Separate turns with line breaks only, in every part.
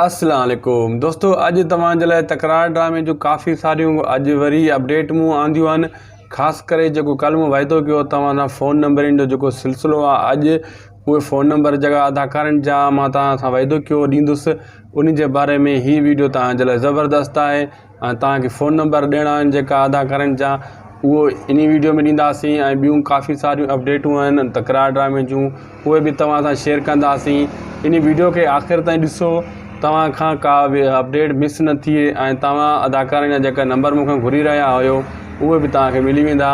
السلام عليڪم دوستو اڄ توهان جي لاء تڪرار ڊرامي جو ڪافي ساريون اڄ وري اپڊيٽ مون آنديون آهن خاص ڪري جيڪو ڪل مون وعدو ڪيو توهان سان فون نمبرين جو جيڪو سلسلو آهي اڄ اهي فون نمبر جيڪا اداڪارن جا مان توهان سان وعدو ڪيو ڏيندس ان جي باري ۾ هي ويڊيو توهان جي لاء زبردست آهي ۽ توهان کي فون نمبر ڏيڻا آهن جيڪا آڌار ڪارڊ جا اهو انهي ويڊيو ۾ ڏينداسين ۽ ٻيون ڪافي ساريون اپڊيٽون آهن تڪرار ڊرامي جون اهي به توهان سان شيئر ڪنداسين انهي ويڊيو کي آخر تائين ڏسو توهان کان ڪا به اپڊيٽ مس نه ٿئي ۽ توهان اداڪارن جا جيڪا نمبر مون کان گهري رهيا آهيو اهي به توهان کي ملي ويندا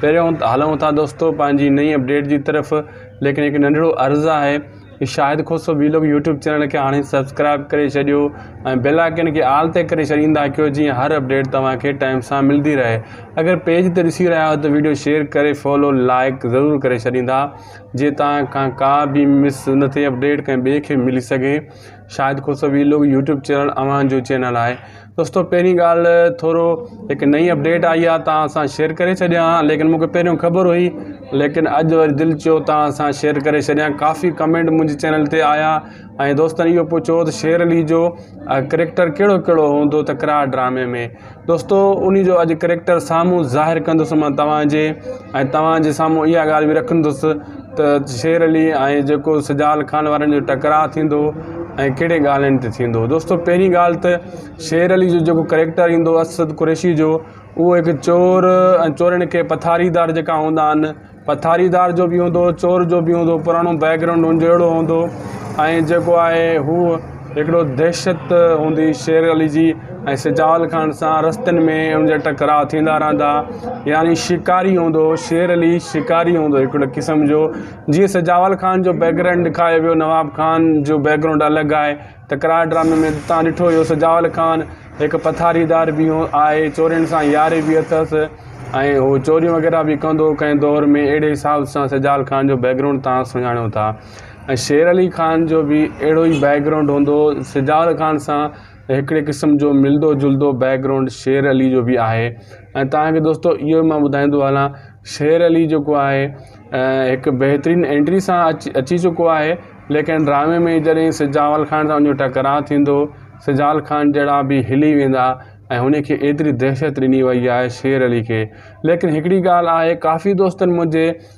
پهريون هلون ٿا دوستو پنهنجي نئين اپڊيٽ جي طرف ليڪن هڪ ننڍڙو عرض آهي Shahid Khoso vlog YouTube channel کي هاڻي سبسڪرائب ڪري ڇڏيو ۽ بيل آئيڪن کي آل تي ڪري ڇڏيندا ڪيو جيئن هر اپڊيٽ توهان کي ٽائيم سان ملدي رهي اگر پيج تي ڏسي رهيا آهيو ته ويڊيو شيئر ڪري فالو لائيڪ ضرور ڪري ڇڏيندا جي توهان کان ڪا به مس نه ٿئي اپڊيٽ ڪنهن ٻئي کي ملي سگهي Shahid Khoso vlog YouTube channel اوهان جو چينل آهي دوستو پهرين ڳالهه ٿورو هڪ نئين اپڊيٽ آئي آ توهان سان شيئر ڪري ڇڏيا آ ليڪن مونکي پهريون خبر هئي ليڪن اڄ وري دل چيو توهان سان شيئر ڪري ڇڏيا ڪافي ڪمينٽ منهنجي چينل تي آيا ۽ دوستن اهو پڇيو ته شير علي جو ڪريڪٽر ڪهڙو ڪهڙو هوندو تڪرار ڊرامي ۾ دوستو ان جو اڄ ڪريڪٽر سامهون ظاهر ڪندس مان توهان جي ۽ توهان جي سامهون اها ڳالهه بي رکندس ته شير علي ۽ جيڪو سجال خان وارن جو ٽڪراء ٿيندو ۽ ڪهڙي ڳالهين تي ٿيندو دوستو پهرين ڳالهه ته شير علي جو جيڪو ڪريڪٽر ايندو اسد قريشي جو اهو هڪ چور ۽ چورن کي پٿاري دار جيڪا هوندا آهن پٿاري دار جو بي هوندو چور جو بي هوندو پراڻو بيڪ گرائونڊ هن جو اهڙو هوندو ۽ جيڪو آهي هو هڪڙو دهشت هوندي شير علي جي ۽ سجال خان سان رستن ۾ ان جا ٽڪراء ٿيندا رهندا يعني شڪاري هوندو شير علي شڪاري هوندو هڪڙو قسم جو جيئن سجاول خان جو بيڪگرائنڊ ڏيکايو ويو نواب خان جو بيڪگرائنڊ الڳ آهي ٽڪراء ڊرامي ۾ تان ڏٺو هيو سجاول خان هڪ پٿاري دار به آهي چورين سان ياري به اٿس ۽ هو چوريون وغيره به ڪندو ڪنهن دور ۾ اهڙي حساب سان سجال خان جو بيڪگرائنڊ تان سڃاڻو ٿا ۽ شير علي خان جو به اهڙو ئي بيڪ گرائونڊ هوندو سجاول خان سان هڪڙي قسم جو ملدو جلدو بيڪ گرائونڊ شير علي جو به آهي ۽ توهان کي دوستو اهو مان ٻڌائيندو هلان شير علي جيڪو آهي هڪ بهترين انٽري سان اچي اچي چڪو آهي ليڪن ڊرامي ۾ جڏهن سجاول خان سان ان جو ٽڪراء ٿيندو سجاول خان جهڙا به هلي ويندا ۽ هن کي ايتري دهشت ڏني وئي آهي شير علي کي ليڪن هڪڙي ڳالهه آهي ڪافي دوستن منهنجي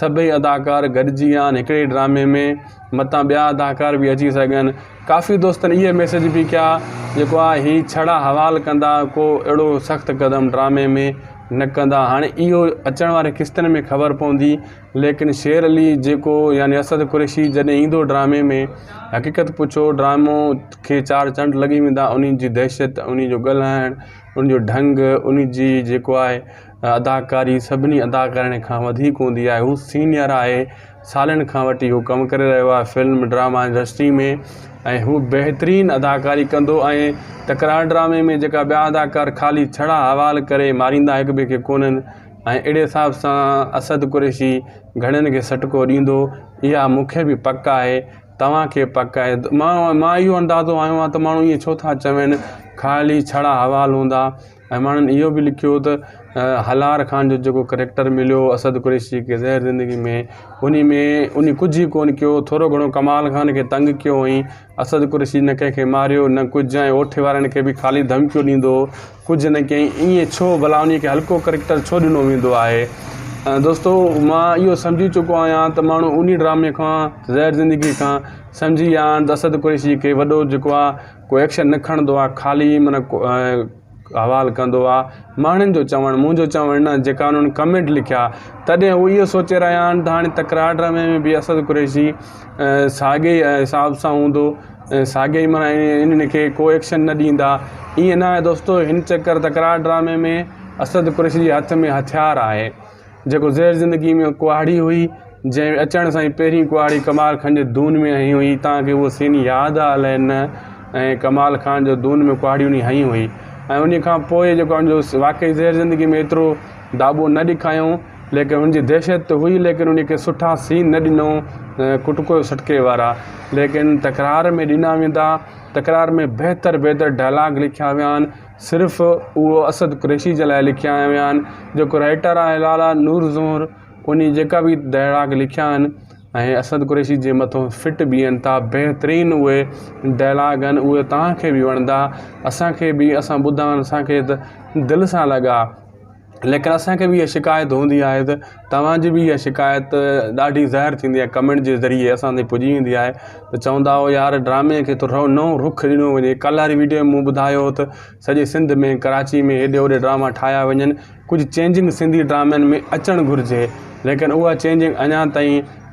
سڀئي اداڪار گڏجي ويا آهن هڪڙي ڊرامي ۾ متان ٻيا اداڪار به اچي سگهن ڪافي دوستن اهي ميسيج به ڪيا جيڪو آ هي ڇڙا حوال ڪندا ڪو اهڙو سخت قدم ڊرامي ۾ نه ڪندا هاڻي اهو اچڻ واري قسطن ۾ خبر پوندي ليڪن شير علي جيڪو يعني اسد قريشي جڏهن ايندو ڊرامي ۾ حقيقت پڇو ڊرامو کي چار چنڊ لڳي ويندا انهي جي دهشت انهي جو ڳالهائڻ انهي جو ڍنگ انهي جي جيڪو آهي اداڪاري سڀني اداڪارن کان وڌيڪ هوندي آهي هو سينئر آهي سالن کان وٺي هو ڪم ڪري رهيو آهي فلم ڊراما انڊسٽري ۾ ۽ هو بهترين اداڪاري ڪندو ۽ تڪرار ڊرامي ۾ جيڪا ٻيا اداڪار خالي ڇڙا حوال ڪري ماريندا هڪ ٻئي کي ڪونن ۽ اهڙي حساب سان اسد قريشي گهڻين کي سٽڪو ڏيندو اها مون کي به پڪ آهي توهان کي پڪ آهي مان اهو اندازو هنيو آهي ته ماڻهو ائين ڇو ٿا چون خالي ڇڙا حوال هوندا ۽ ماڻهن اهو به لکيو ته هلار خان جو جيڪو ڪريڪٽر مليو اسد قريشي کي زهر زندگي ۾ ان ۾ ان ڪجهه ئي ڪونه ڪيو ٿورو گهڻو ڪمال خان کي تنگ ڪيو هئائين اسد قريشي نه ڪنهن کي ماريو نه ڪجهه ۽ اوٺي وارن کي به خالي ڌمڪيون ڏيندو هو ڪجهه نه ڪيائين ائين ڇو ڀلا ان کي هلڪو ڪريڪٽر ڇو ڏنو ويندو آهي دوستو مان اهو سمجهي چڪو آهيان ته ماڻهو ان ڊرامي کان زهر زندگي کان سمجهي ويا آهن ته اسد قريشي کي وڏو جيڪو آهي ڪو ايڪشن نه کڻندو آ خالي من حوال ڪندو آ ماڻھن جو چوڻ منھنجو چوڻ نه جيڪا انھن ڪمينٽ لکيا تڏھن ھو اھو سوچي رھيا آھن تھ ھاڻي تڪرار ڊرامي ۾ بھ اسد قريشي ساڳئي حساب سان ھوندو ۽ ساڳئي من انھن کي ڪو ايڪشن نه ڏيندا ايئن نه آھي دوستو ھن چڪر تڪرار ڊرامي ۾ اسد قريشي جي ھٿ ۾ ھٿيار آھي جيڪو زهر زندگيء ۾ ڪهاڙي هئي، جنهن اچڻ سان ئي پهرين ڪهاڙي ڪمال خان جي دون ۾ هنئي هئي، تان کي اهو سين ياد آ الائي نه ۽ ڪمال خان جو دون ۾ ڪهاڙي انهي هنئي هئي ۽ انهي کان پوء جيڪو آ جو واقعي زهر زندگيء ۾ ايترو داٻو نه ڏکايائون ليڪن ان جي دهشت ته هئي ليڪن انهي کي سٺا سين نه ڏنائون ڪٽڪو سٽڪي وارا ليڪن تڪرار ۾ ڏنا ويندا تڪرار ۾ بهتر بهتر ڊائلاگ لکيا ويا آهن. صرف اهو اسد قريشي جي لاء لکيا ويا آهن جيڪو رائيٽر آهي لالا نور زهر انهي جيڪا به ڊائلاگ لکيا آهن ۽ اسد قريشي جي مٿو فٽ بيهن ٿا بهترين اهي ڊائلاگ آهن اهي توهان کي به وڻندا اسان کي به اسان ٻڌا آهن اسان کي دل سان لڳا ليڪن اسان کي بي اها شڪايت هوندي آهي ته توهانجي بي اها شڪايت ڏاڍي ظاهر ٿيندي آهي ڪمينٽ جي ذريعي اسان تائين پڄي ويندي آهي ته چوندا هو يار ڊرامي کي ٿورو نئون رخ ڏنو وڃي ڪلهه واري ويڊيو مون ٻڌايو هو ته سڄي سنڌ ۾ ڪراچي ۾ هيڏي هوڏي ڊراما ٺاهيا وڃن ڪجهه چينجنگ سنڌي ڊرامن ۾ اچڻ گهرجي ليڪن اها چينجنگ اڃان تائين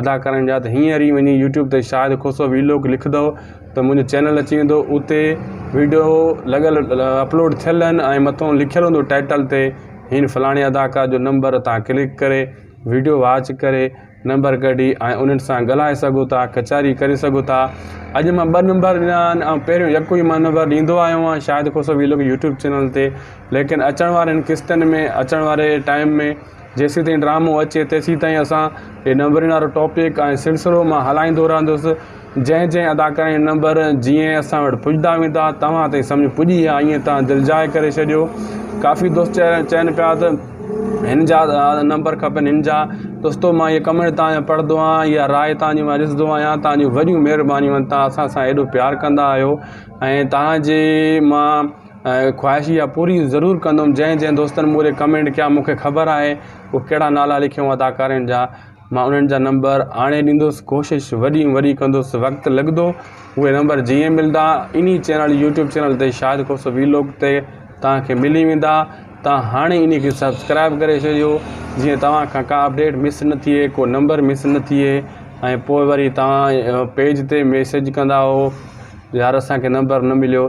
ادا ڪرڻ جا ته هينئر ئي وڃي يوٽيوب تي شاهد کوسو ويلوگ لکندو ته منهنجو چينل اچي ويندو اتي ويڊيو لڳل اپلوڊ ٿيل آهن ۽ مٿو لکيل هوندو ٽائٽل تي هن فلاڻي اداڪار جو نمبر تان ڪلڪ ڪري ويڊيو واچ ڪري نمبر ڪڍي ۽ انهن سان ڳالهائي سگهو ٿا ڪچهري ڪري سگهو ٿا اڄ مان ٻه نمبر ڏنا آهن ۽ پهريون يڪو ئي مان نمبر ڏيندو آيو آهيان Shahid Khoso vlog YouTube channel تي ليڪن اچڻ وارين قسطن ۾ اچڻ واري ٽائم ۾ جيسين تائين ڊرامو اچي تيسين تائين اسان هي نمبرن وارو ٽاپڪ ۽ سلسلو مان هلائيندو رهندس جنهن جنهن اداڪارن جا نمبر جيئن اسان وٽ پڄندا ويندا توهان تائين سمجهه پڄي يا ائين توهان دل جاء ڪري ڇڏيو ڪافي دوست چين پيا ته هن جا نمبر کپن هن جا دوستو مان هي ڪمينٽ توهان جا پڙهندو آهيان يا راء توهان جي مان ڏسندو آهيان توهان جون وڏيون مهربانيون آهن توهان اسان سان ايڏو پيار ڪندا آهيو ۽ توهان جي مان ۽ خواهش اها پوري ضرور ڪندم جنهن جنهن دوستن موري ڪمينٽ ڪيا مونکي خبر آهي اهي ڪهڙا نالا لکيون اداڪارين جا مان انهن جا نمبر آڻي ڏيندس ڪوشش وڏي وڏي ڪندس وقت لڳندو اهي نمبر جيئن ملدا انهي چينل يوٽيوب چينل تي شاهد کوسو ويلوگ تي توهان کي ملي ويندا توهان هاڻي انهي کي سبسڪرائب ڪري ڇڏيو جيئن توهان کان ڪا اپڊيٽ مس نه ٿئي ڪو نمبر مس نه ٿئي ۽ پوء وري توهان پيج تي ميسج ڪندا يار اسان کي نمبر نه مليو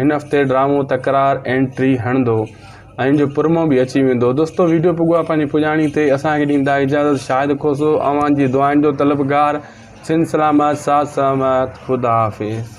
هن هفتي ڊرامو تڪرار انٽري هڻندو ۽ جو پرمو به اچي ويندو دوستو ويڊيو پگوا پنهنجي پڄاڻي تي اسان کي ڏيندا اجازت شاهد کوسو اوهان جي دعائن جو طلبگار سنڌ سلامت ساٿ سلامت خدا حافظ